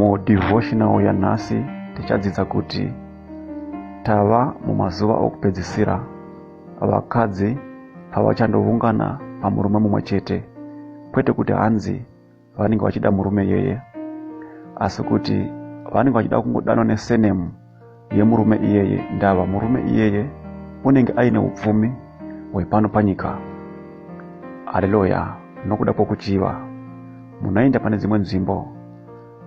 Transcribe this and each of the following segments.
mudevotional yanhasi tichadzidza kuti tava mumazuva okupedzisira vakadzi pavachandoungana pamurume mumwe chete kwete kuti hanzi vanenge vachida murume iyeye asi kuti vanenge vachida kungodanwa nesenemu yemurume iyeye ndava murume iyeye unenge aine upfumi hwepano panyika haleluya nokuda kwokuchiva munoenda pane dzimwe nzvimbo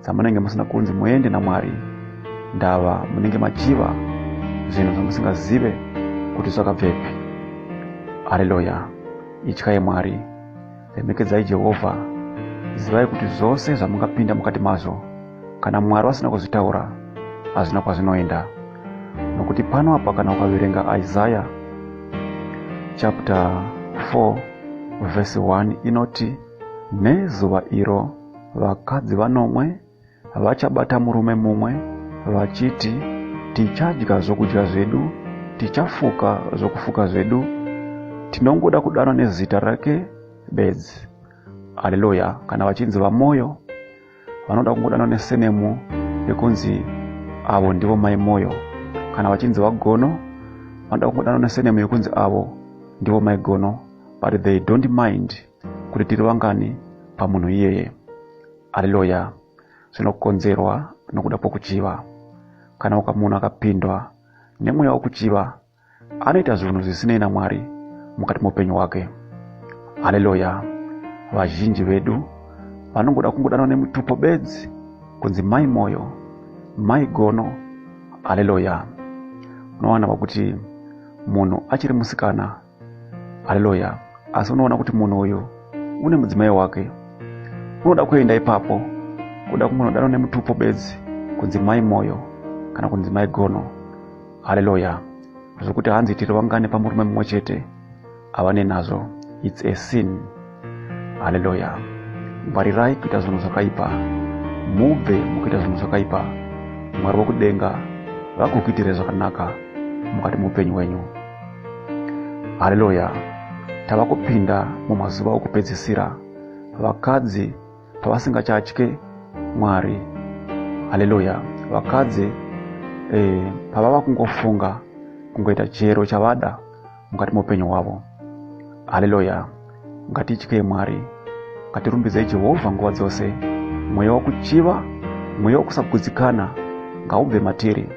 dzamunenge musina kunzi muende namwari ndava munenge machiva zvinhu zvamusingazive kuti zvakabvepi haleluya ityai mwari Remekedzai Jehovha. Zivai kuti zvose zvamungapinda mukati mazvo, kana Mwari vasina kuzvitaura, hazvina kwazvinoenda. Nokuti pano apa kana ukaverenga Isaya chapter 4 verse 1 inoti, Nezuva iro vakadzi vanomwe vachabata murume mumwe vachiti tichadya zvokudya zvedu tichafuka zvokufuka zvedu tinongoda kudanwa nezita rake bedzi haleluya kana vachinzi vamoyo vanoda kungodanwa nesenemu yekunzi avo ndivo mai moyo kana vachinzi vagono vanoda kungodanwa nesenemu yekunzi avo ndivo mai gono but they don't mind kuti tiri vangani pamunhu iyeye Haleluya! Zvinokonzerwa nokuda kwokuchiva. Kana ukamunhu akapindwa nemweya wokuchiva, anoita zvinhu zvisinei naMwari mukati moupenyu hwake. Haleluya! Vazhinji vedu vanongoda kungodanwa nemutupo bedzi kunzi mai moyo, mai gono. Haleluya! Unowana vakuti munhu achiri musikana haleluya asi unoona kuti munhu uyu une mudzimai wake unoda kuenda ipapo kuda kumunodano nemutupo bedzi kunzi mai moyo kana kunzi mai gono haleluya zvekuti hanzi tiri vangane pamurume mumwe chete havane nazvo its a sin haleluya ngwarirai kuita zvinhu zvakaipa mubve mukuita zvinhu zvakaipa mwari wekudenga vakukuitirei zvakanaka mukati muupenyu wenyu haleluya tava kupinda mumazuva okupedzisira vakadzi pavasingachatye mwari haleluya vakadzi eh, pavava kungofunga kungoita chero chavada mukati meupenyu hwavo haleluya ngatityei mwari ngatirumbidzei jehovha nguva dzose mweya wokuchiva mweya wokusagutsikana ngaubve matiri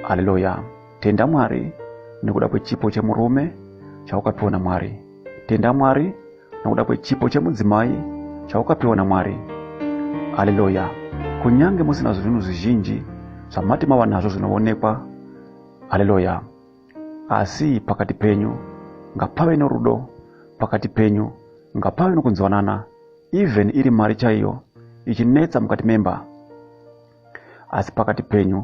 haleluya tenda mwari nekuda kwechipo chemurume chaukapiwa namwari tenda mwari nekuda kwechipo chemudzimai chaukapiwa namwari haleluya kunyange musina zvinhu zvizhinji zvamati mava nazvo zvinoonekwa haleluya asi pakati penyu ngapave norudo pakati penyu ngapave nokunzwanana even iri mari chaiyo ichinetsa mukati memba asi pakati penyu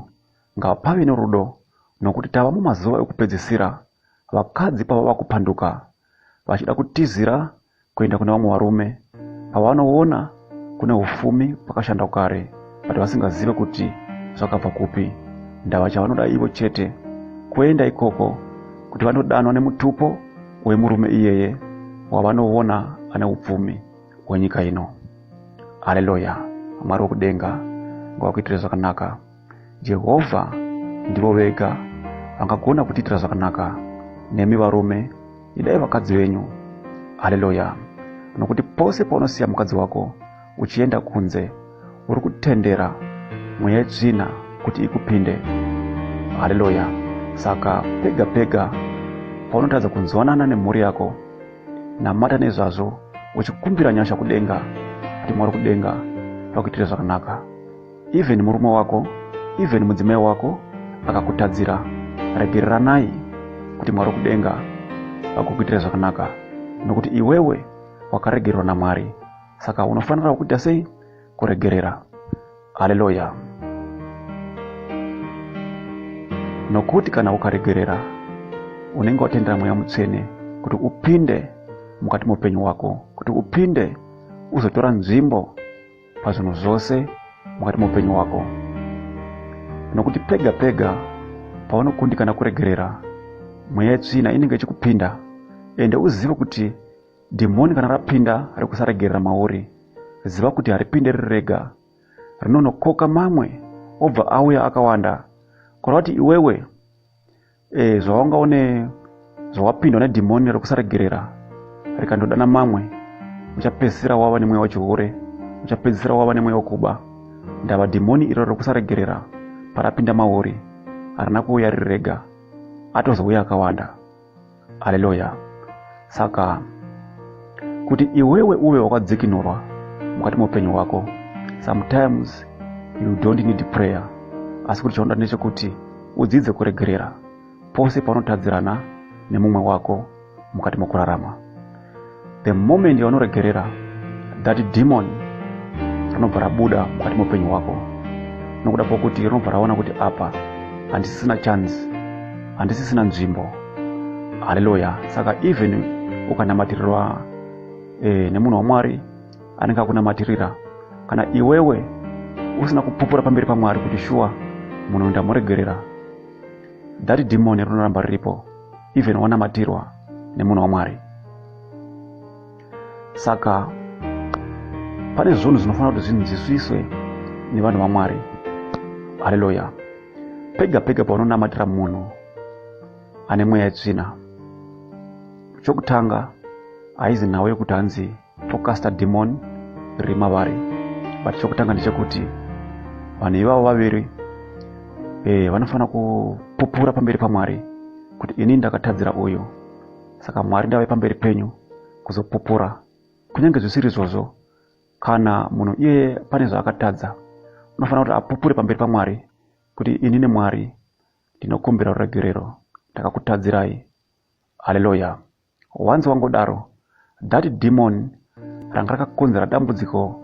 ngapave norudo nokuti tava mumazuva ekupedzisira vakadzi pavava kupanduka vachida kutizira kuenda kune vamwe varume avo vanoona kune ufumi pakashanda kare but vasingazive kuti zvakabva kupi ndava chavanoda ivo chete kuenda ikoko kuti vanodanwa nemutupo wemurume iyeye wavanoona ane upfumi hwenyika ino haleluya mwari wekudenga ngawakuitire zvakanaka jehovha ndivo vega vangagona kutiitira zvakanaka nemi varume idai vakadzi venyu haleluya nokuti pose paunosiya mukadzi wako uchienda kunze uri kutendera mweya yetsvina kuti ikupinde haleluya saka pega pega paunotadza kunzwanana nemhuri yako namata nezvazvo uchikumbira nyasha kudenga kuti mwari kudenga vakuitire zvakanaka Even murume wako, even mudzimai wako akakutadzira, regeriranai kuti Mwari kudenga akukuitira zvakanaka nokuti iwewe wakaregererwa naMwari. Saka unofanira kuita sei? Kuregerera. Haleluya! Nokuti kana ukaregerera, unenge watendera Mweya Mutsvene kuti upinde mukati meupenyu hwako, kuti upinde uzotora nzvimbo pazvinhu zvose mukati meupenyu hwako nokuti pega pega paunokundikana kuregerera mweya yetsvina inenge ichikupinda ende uzive kuti dhimoni kana rapinda rekusaregerera mauri ziva kuti haripinde riri rega rinonokoka mamwe obva auya akawanda kureva kuti iwewe e, zvawanga une zvawapindwa nedhimoni rekusaregerera rikandodana mamwe uchapedzisira wava nemweya wechihure uchapedzisira wava nemweya wekuba ndava dhimoni iro rekusaregerera parapinda mauri harina kuuya riri rega atozouya akawanda aleluya saka kuti iwewe uve wakadzikinurwa mukati meupenyu hwako sometimes you don't need prayer asi kuti chaunoda ndechekuti udzidze kuregerera pose paunotadzirana nemumwe wako mukati mokurarama the moment yaunoregerera that demon rinobva rabuda mukati meupenyu hwako nokuda kwokuti rinobva raona kuti apa handisisina chance handisisina nzvimbo haleluya saka even ukanamatirirwa e, nemunhu wamwari anenge akunamatirira kana iwewe usina kupupura pamberi pamwari kuti shuwa munhu ndamuregerera that demon rinoramba riripo even wanamatirwa nemunhu wamwari saka pane zvinhu zvinofanira kuti zvinzwisiswe nevanhu vamwari haleluya pega pega paunonamatira munhu ane mweya yetsvina chokutanga haizi nhau yekuti hanzi tokasta demon riri mavari but chokutanga ndechekuti vanhu ivavo vaviri e, vanofanira kupupura pamberi pamwari kuti ini ndakatadzira uyu saka mwari ndave pamberi penyu kuzopupura kunyange zvisiri izvozvo kana munhu iye pane zvaakatadza unofanira kuti apupure pamberi pamwari kuti ini nemwari ndinokumbira ruregerero ndakakutadzirai haleluya wanzi wangodaro that demon ranga rakakonzera dambudziko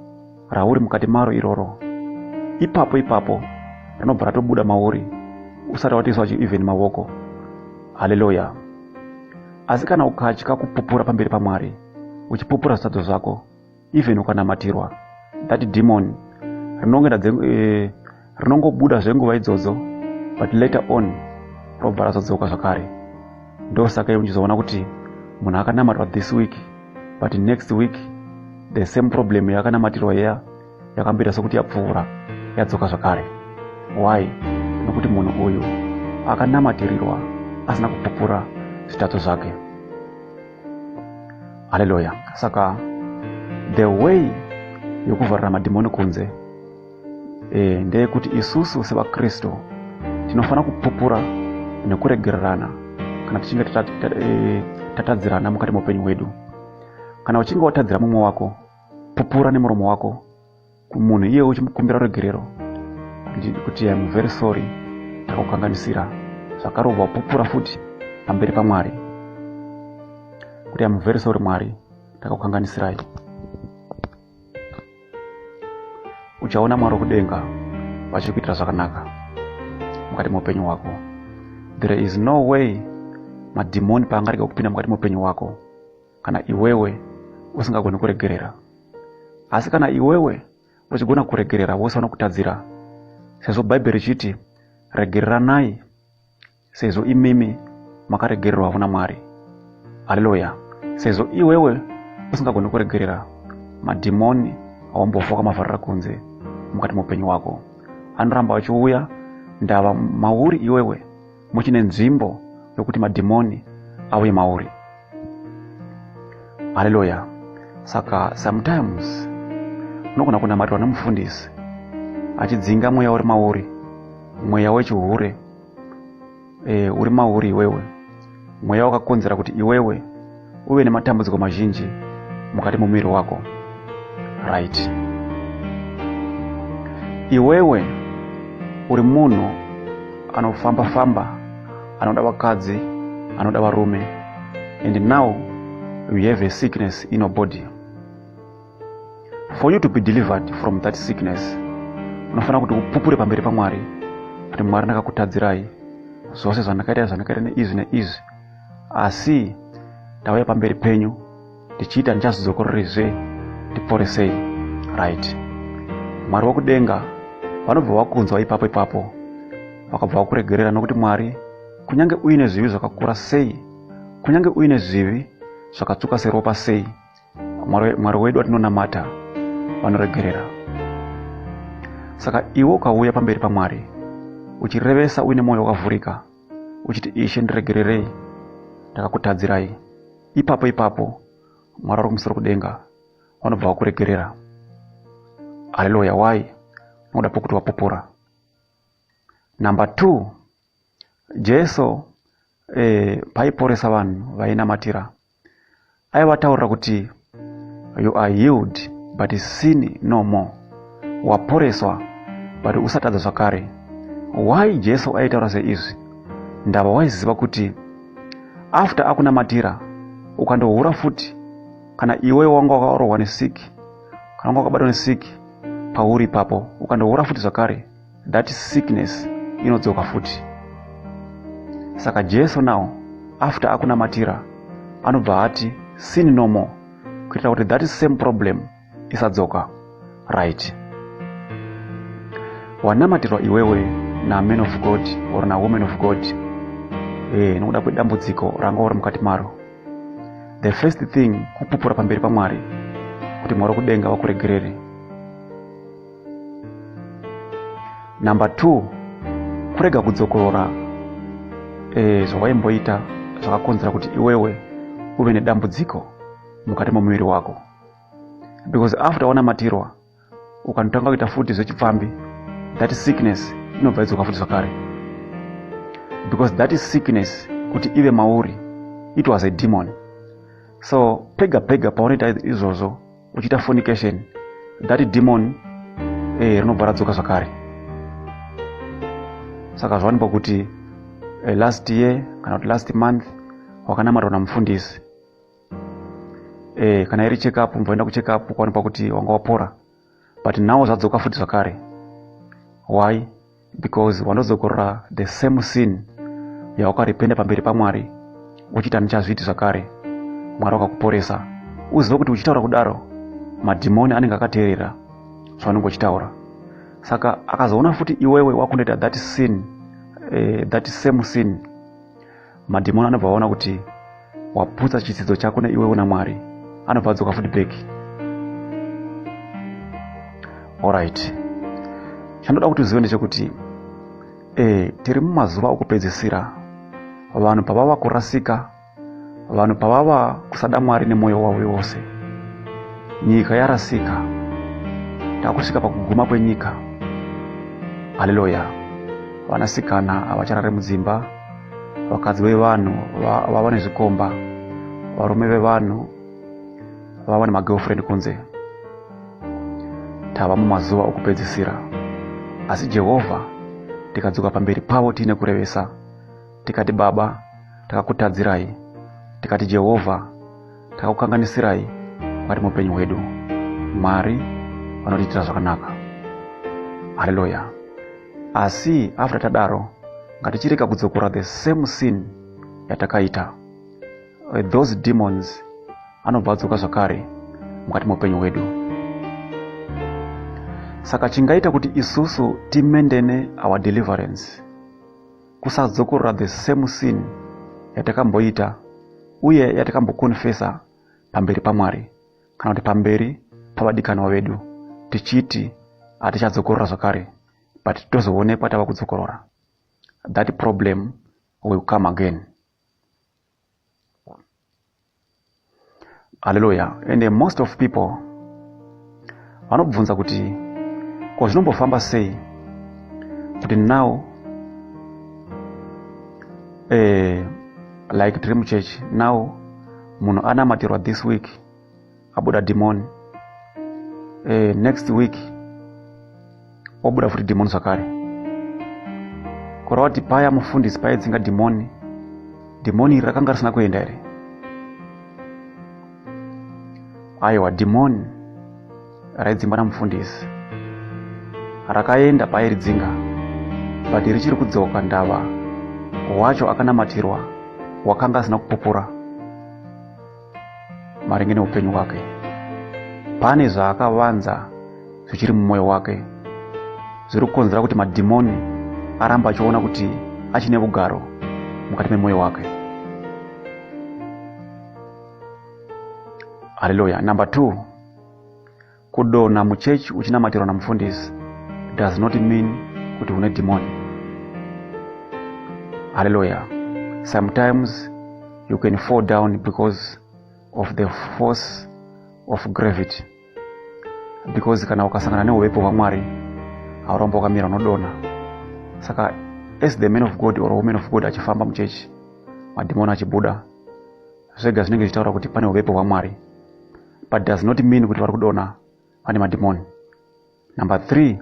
rauri mukati maro iroro ipapo ipapo rinobva ratobuda mauri usati watiiswa chiivheni mavoko haleluya asi kana ukatya kupupura pamberi pamwari uchipupura zvisadzo zvako even ukanamatirwa that demon rinonge eh, rinongobuda zvenguva idzodzo but later on robva razodzoka zvakare ndosaka iwe uchizoona kuti munhu akanamatwa this week but next week the same problem yakanamatirwa yeya yakamboita sokuti yapfuura yadzoka zvakare why nokuti munhu uyu akanamatirirwa asina kupupura zvitatso zvake haleluya saka the way yokuvharira madhimoni kunze e, ndeyekuti isusu sevakristu tinofanira kupupura nekuregererana kana tichinge eh, tatadzirana mukati meupenyu hwedu kana uchinge watadzira mumwe wako pupura nemuromo wako kumunhu iye uchimukumbira ruregerero kuti am very sorry takukanganisira zvakarova pupura futi pamberi pamwari kuti am very sorry mwari takakukanganisirai uchaona mwari wekudenga vachikuitira zvakanaka mukati meupenyu hwako there is no way madhimoni paangarega kupinda mukati meupenyu hwako kana iwewe usingagoni kuregerera asi kana iwewe uchigona kuregerera vose vanokutadzira sezvo bhaibheri richiti regereranai sezvo imimi makaregererwavo namwari haleluya sezvo iwewe usingagoni kuregerera madhimoni awambofoka mavharira kunze mukati meupenyu wako anoramba achiuya ndava mauri iwewe muchine nzvimbo yokuti madhimoni auye mauri haleluya saka sometimes unogona kunamatirwa nemufundisi achidzinga mweya uri mauri mweya wechihure e, uri mauri iwewe mweya wakakonzera kuti iwewe uve nematambudziko mazhinji mukati mumuviri wako right iwewe uri munhu anofamba famba anoda vakadzi anoda varume and now you have a sickness in your body for you to be delivered from that sickness unofanira kuti upupure pamberi pamwari kuti mwari ndakakutadzirai zvose zvandakaita zvandakaita neizvi neizvi asi ndauya pamberi penyu ndichiita ndichazidzokororezve ndiporesei right mwari wekudenga vanobva vakunzwa ipapo ipapo vakabva vakuregerera nokuti mwari kunyange uine zvivi zvakakura sei kunyange uine zvivi zvakatsvuka seropa sei mwari wedu watinonamata vanoregerera saka iwe ukauya pamberi pamwari uchirevesa uine mwoyo wakavhurika uchiti ishe ndiregererei ndakakutadzirai ipapo ipapo mwari vari kumusoro kudenga vanobva vakuregerera haleluya why nokuda pokuti wapupura number two jesu eh, paiporesa vanhu vainamatira aivataurira kuti you are healed but sin no more waporeswa but usatadza zvakare why jesu aitaura seizvi ndava waiziva kuti after akunamatira ukandohura futi kana iwe wanga wakarohwa nesiki kana wanga wakabatwa nesiki pauri ipapo ukandohura futi zvakare that sickness inodzoka futi saka jesu now after akunamatira anobva ati sin no more kuitira kuti that same problem isadzoka right wanamatirwa iwewe naman of god or nawoman of god e, nokuda kwedambudziko ranga uri mukati maro the first thing kupupura pamberi pamwari kuti mwari kudenga vakuregerere number two kurega kudzokorora e, zvawaimboita zvakakonzera kuti iwewe uve nedambudziko mukati momuviri wako because after wanamatirwa ukanotanga kuita futi zvechipfambi that sickness inobva idzoka futi zvakare because that is sickness kuti ive mauri it was a demon so pega pega paunoita izvozvo uchiita fornication that demon eh, rinobva radzoka zvakare saka zvawanikwa kuti eh, last year kana kuti last month wakanamatwa namufundisi eh, kana iri check up mvoenda kucheck up kwaonekwa kuti wanga wapora but now zvadzoka futi zvakare why because wanozokorora the same sin yawakaripenda pamberi pamwari uchiita ndichazviti zvakare mwari wakakuporesa uzive kuti uchitaura kudaro madhimoni anenge akateerera zvaunenge uchitaura saka akazoona futi iwewe wakundoita that sin eh, that same sin madhimoni anobva aona kuti waputsa chitsidzo chako neiwewo namwari anobva adzoka futi back orit chandoda kuti uzive ndechekuti e tiri mumazuva okupedzisira vanhu pavava kurasika vanhu pavava kusada mwari nemwoyo wavo wose nyika yarasika takusvika pakuguma kwenyika haleluya vanasikana havacharare mudzimba vakadzi vevanhu vava nezvikomba varume vevanhu vava nemagirlfriend kunze tava mumazuva okupedzisira asi jehovha tikadzoka pamberi pavo tiine kurevesa tikati baba takakutadzirai tikati jehovha takakukanganisirai mukati muupenyu hwedu mwari vanotiitira zvakanaka haleluya asi after tadaro ngatichirega kudzokora the same sin yatakaita eh, those demons anobva adzoka zvakare mukati meupenyu hwedu saka chingaita kuti isusu timendene our deliverance kusadzokorora the same sin yatakamboita uye yatakambokonfesa pamberi pamwari kana kuti pamberi pavadikanwa vedu tichiti hatichadzokorora zvakare but tozoonekwa tava kudzokorora that problem will come again haleluya ende most of people vanobvunza kuti ko zvinombofamba sei kuti now eh, like tiri muchechi now munhu anamatirwa this week abuda dhimoni e, next week obuda futi dhimoni zvakare korawati paya mufundisi paidzinga dhimoni dhimoni iri rakanga risina kuenda here aiwa dhimoni raidzingwa namufundisi rakaenda pairidzinga but richiri kudzoka ndava wacho akanamatirwa wakanga asina kupupura maringe neupenyu hwake pane zvaakavanza zvichiri mumwoyo wake zviri kukonzera kuti madhimoni aramba achiona kuti achine vugaro mukati memwoyo wake haleluya number two Kudonha muchechi uchinamatirwa namufundisi does not mean kuti une dhimoni. Hallelujah. Sometimes you can fall down because of the force of gravity. Because kana ukasangana neuvepo hwamwari hauramba wakamira unodonha. Saka as the man of God or woman of God achifamba muchechi madhimoni achibuda zvega zvinenge zvichitaura kuti pane uvepo hwamwari but does not mean kuti vari kudona vane madhimoni number three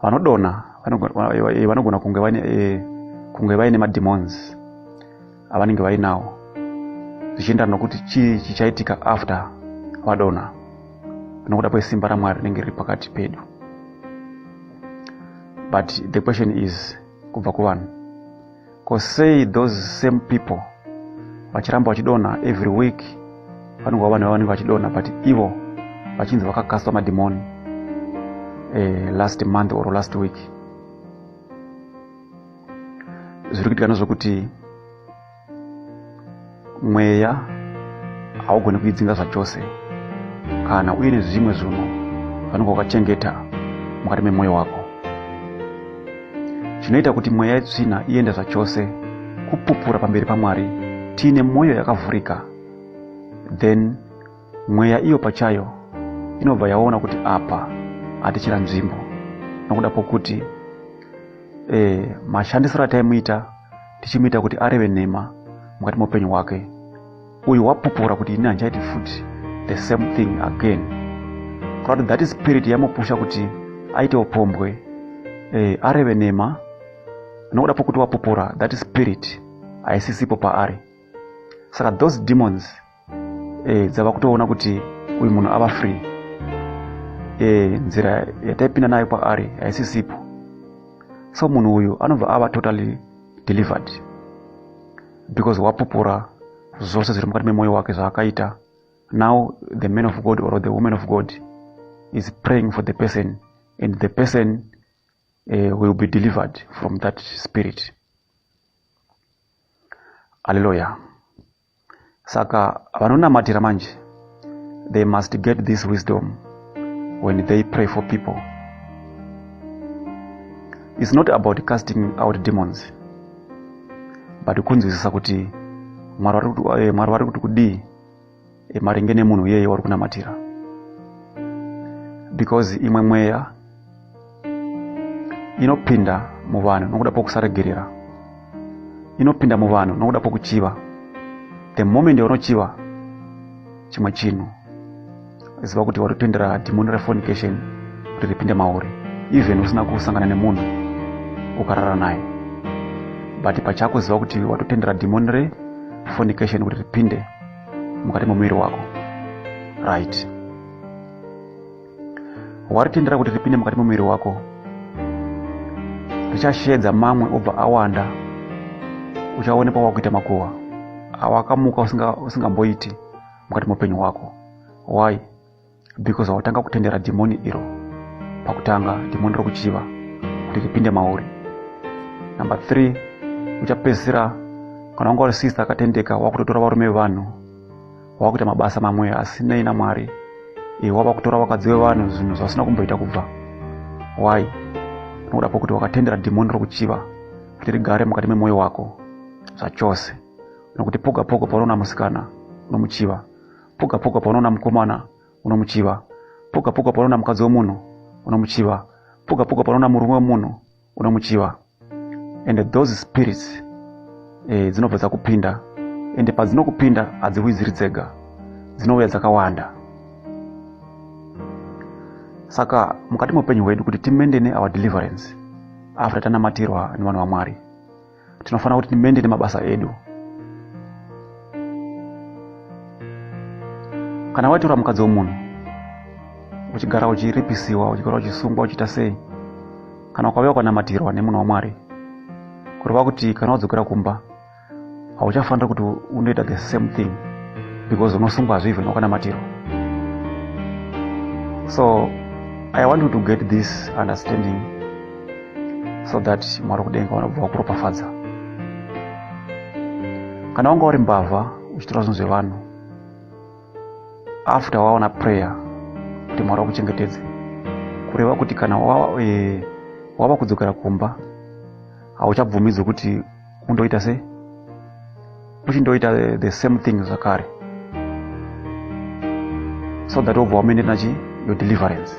vanodona eh, vanogona kunge vaine eh, kunge vaine madhimons avanenge vainawo zvichiendana nokuti chii chichaitika after vadona nokuda kwesimba ramwari rinenge riri pakati pedu but the question is kubva kuvanhu ko sei those same people vachiramba vachidonha every week panongoa vanhu vavanenge vachidonha but ivo vachinzi vakakastwa madhimoni eh, last month or last week zviri kuitika ndozvekuti mweya haugoni kuidzinga zvachose kana uye nezvimwe zvinhu vanenge wakachengeta mukati memwoyo wako chinoita kuti mweya yetsvina iende zvachose kupupura pamberi pamwari tiine mwoyo yakavhurika then mweya iyo pachayo inobva yaona kuti apa hatichira nzvimbo nokuda kwokuti e, mashandisiro ataimuita tichimuita kuti areve nhema mukati meupenyu hwake uyu wapupura kuti ini handichaiti futi the same thing again kuda kuti that spirit yamupusha kuti aite upombwe eh, areve nhema nokuda pokuti wapupura that spirit haisisipo paari saka those demons e, dzava kutoona kuti uyu munhu ava free e, nzira yataipinda nayo kwaari haisisipo so munhu uyu anobva ava totally delivered because wapupura zvose zviri mukati memwoyo wake zvaakaita now the man of god or the woman of god is praying for the person and the person uh, will be delivered from that spirit. Hallelujah. saka vanonamatira manje they must get this wisdom when they pray for people its not about casting out demons but kunzwisisa kuti mwari vari eh, kuti kudii eh, maringe nemunhu iyeye wari kunamatira because imwe mweya inopinda muvanhu nokuda pokusaregerera inopinda muvanhu nokuda pokuchiva the moment yaunochiva chimwe chinhu ziva kuti waripindira dhimoni refonication kuti ripinde mauri even usina kusangana nemunhu ukarara naye but pachako ziva kuti watotendera dhimoni refonication kuti ripinde mukati memuviri wako right waritendera kuti ripinde mukati memuviri wako richasheedza mamwe obva awanda uchaonekwa wakuita makuhwa awakamuka usingamboiti usinga mukati meupenyu hwako why because wautanga kutendera dhimoni iro pakutanga dhimoni rokuchiva kuti ripinde mauri number three uchapedzisira kana wanga uri sister akatendeka wakutotora varume vevanhu wava kuita mabasa mamwe asinei namwari iwe wava kutora vakadzi vevanhu zvinhu zvasina kumboita kubva why unokuda pokuti wakatendera dhimoni rokuchiva kuti rigare mukati memwoyo wako zvachose nokuti poga poga paunoona musikana unomuchiva poga poga paunoona mukomana unomuchiva poga poga paunoona mukadzi wemunhu unomuchiva poga poga paunoona murume wemunhu unomuchiva and those spirits eh, dzinobva dzakupinda ende padzinokupinda hadziuyi dziri dzega dzinouya dzakawanda saka mukati meupenyu hwedu kuti timendene our deliverance after tanamatirwa nevanhu vamwari tinofanira kuti timende nemabasa edu kana waitora mukadzi wemunhu uchigara uchiripisiwa uchigara uchisungwa uchiita sei kana ukave wakanamatirwa nemunhu wamwari kureva kuti kana wadzokera kumba hauchafanira kuti unoita the same thing because unosungwa hazvivhi nokanamatirwa so i want you to get this understanding so that mwari kudenga vanobva vakuropafadza kana wanga uri mbavha uchitora zvinhu zvevanhu after waona prayer kuti mwari wakuchengetedze kureva kuti kana wava, e, wava kudzokera kumba hauchabvumidzwi kuti undoita sei futi ndoita the same thing zvakare so that wobva wamene nachi your deliverance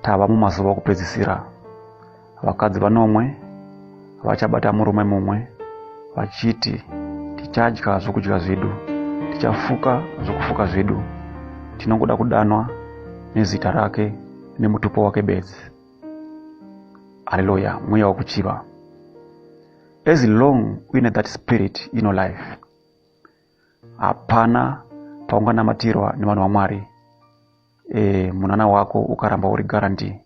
tava mumazuva okupedzisira vakadzi vanomwe vachabata murume mumwe vachiti tichadya zvokudya zvedu tichafuka zvokufuka zvedu tinongoda kudanwa nezita rake nemutupo wake bedzi haleluya mweya wekuchiva as long uine that spirit ino life hapana paunganamatirwa nevanhu vamwari e, munana wako ukaramba uri guarantee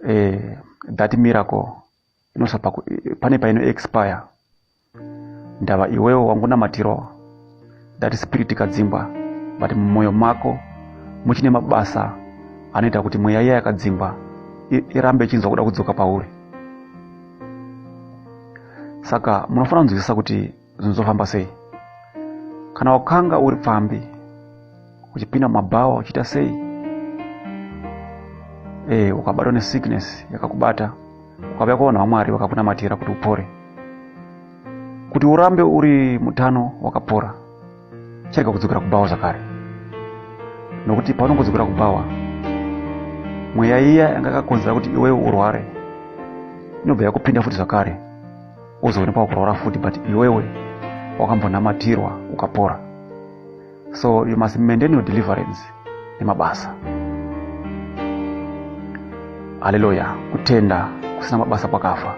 e, that miracle inosapa pane paino expire ndava iwewo wangunamatirowo ndati spirit kadzingwa but mumwoyo mako muchine mabasa anoita kuti mweya iya yakadzingwa irambe ichinzwa kuda kudzoka pauri saka munofanira kunzwisisa kuti zvinozofamba sei kana wakanga uri pfambi uchipinda mumabhawa uchiita sei e, ukabatwa nesickness yakakubata ukauya kwavanhu vamwari vakakunamatira kuti upore kuti urambe uri mutano wakapora chirega kudzokera kubhawa zvakare nokuti paunongodzokera kubhawa mweya iya yanga yakakonzera kuti iwewe urware inobva yakupinda futi zvakare uzoonekwa kurwara futi but iwewe wakambonamatirwa ukapora so you must maintain your deliverance nemabasa haleluya kutenda kusina mabasa kwakafa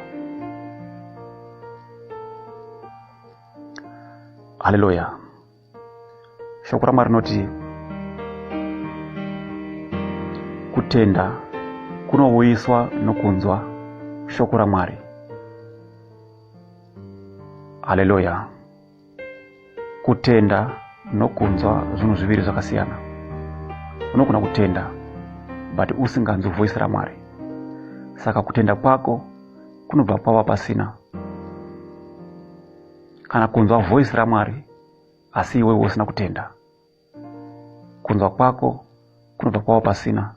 haleluya shoko ramwari rinoti kutenda kunouyiswa nokunzwa shoko ramwari haleluya kutenda nokunzwa zvinhu zviviri zvakasiyana unogona kutenda but usinganzwi voisi ramwari saka kutenda kwako kunobva kwava pasina kana kunzwa voisi ramwari asi iwewe usina kutenda kunzwa kwako kunobva kwava pasina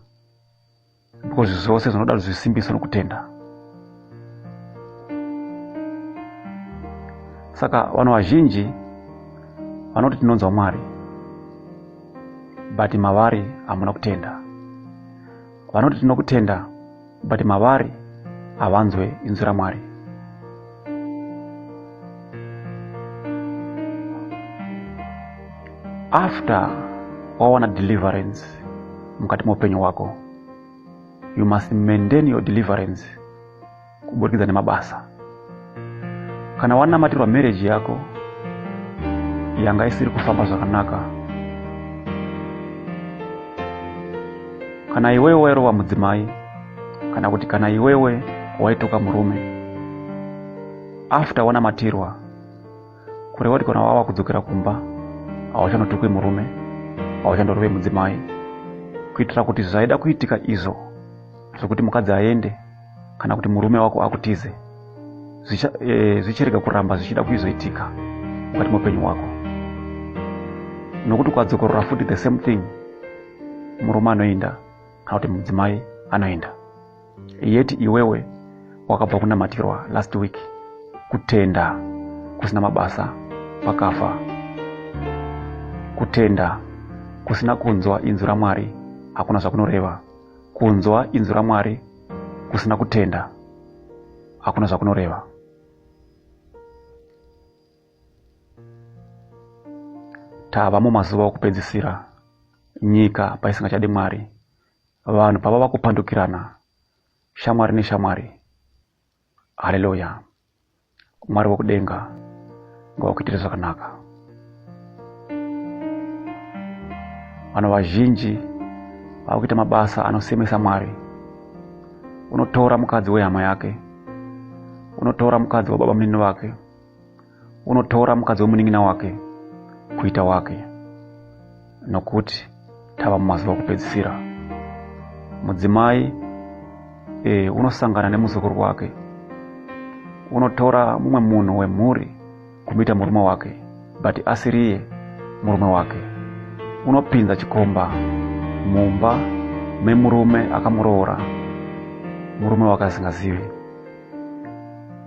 because zvose zvinoda zvisimbiso nokutenda saka vanhu vazhinji vanoti tinonzwa mwari but mavari hamuna kutenda vanoti tinokutenda but mavari havanzwe inzwi ramwari after wawana deliverance mukati meupenyu hwako you must maintain your deliverance kuburikidza nemabasa kana wanamatirwa marriage yako yanga isiri kufamba zvakanaka kana iwewe wairova mudzimai kana kuti kana iwewe waituka murume after wanamatirwa kureva kuti kana wava kudzokera kumba hauchanotukwi murume hauchandorove mudzimai kuitira kuti zvaida kuitika izvo zvekuti mukadzi aende kana kuti murume wako akutize e, zvichirega e, kuramba zvichida kuizoitika mukati meupenyu wako nokuti ukadzokorora futi the same thing murume anoinda kana kuti mudzimai anoenda yeti iwewe wakabva kunamatirwa last week kutenda kusina mabasa pakafa kutenda kusina kunzwa inzwi ramwari hakuna zvakunoreva kunzwa inzwi ramwari kusina kutenda hakuna zvakunoreva tava mumazuva okupedzisira nyika paisingachadi mwari vanhu pavava kupandukirana shamwari neshamwari haleluya mwari wekudenga ngawakuitire zvakanaka vanhu vazhinji vava kuita mabasa anosemesa mwari unotora mukadzi wehama yake unotora mukadzi wababa munini vake unotora mukadzi wemunin'ina wake kuita wake nokuti tava mumazuva okupedzisira mudzimai e, unosangana nemuzukuru wake unotora mumwe munhu wemhuri kumuita murume wake but asiriye murume wake unopinza chikomba mumba memurume akamuroora murume wake asingazivi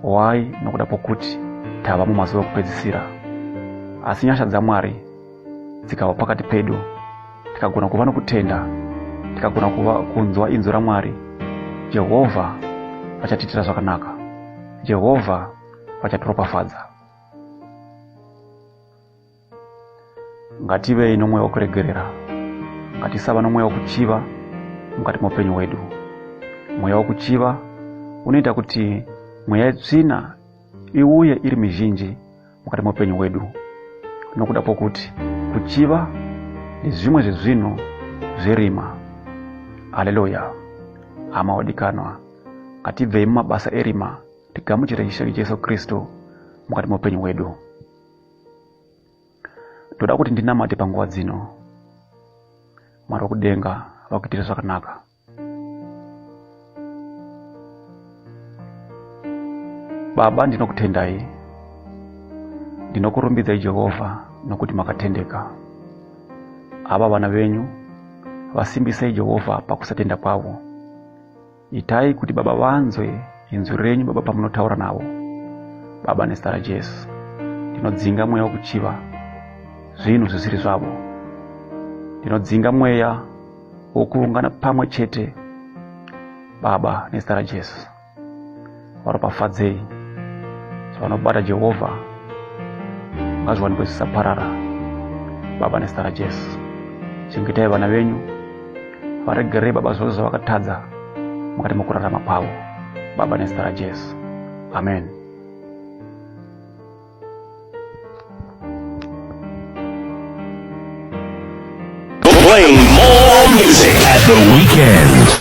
why nokuda kwokuti tava mumazuva ekupedzisira asi nyasha dzamwari dzikava pakati pedu tikagona kuva nokutenda tikagona kuva kunzwa inzwi ramwari jehovha vachatiitira zvakanaka jehovha vachatiropafadza ngativei nomweya wokuregerera ngatisava nomweya wokuchiva mukati moupenyu hwedu mweya wokuchiva unoita kuti mweya yetsvina iuye iri mizhinji mukati moupenyu hwedu nokuda kwokuti kuchiva nezvimwe zvezvinhu zverima haleluya hama wadikanwa ngatibvei mumabasa erima tigamuchire ishe jesu kristu mukati moupenyu hwedu ndoda kuti ndinamate panguva dzino mwari wekudenga vakuitire zvakanaka baba ndinokutendai ndinokurumbidzai jehovha nokuti makatendeka ava vana venyu vasimbisei jehovha pakusatenda kwavo Itai kuti Baba vanzwe inzwi renyu, Baba, pamunotaura navo. Baba, nezita raJesu, ndinodzinga mweya wokuchiva zvinhu zvisiri zvavo. Ndinodzinga mweya wokuungana pamwe chete, Baba, nezita raJesu. varopafadzei sevanobata jehovha ngazviwanikwe zvisaparara baba nezita rajesu chengetai vana venyu varegerei baba zvose zvavakatadza mukati mokurarama kwavo baba nezita rajesu amen Play more music at the weekend.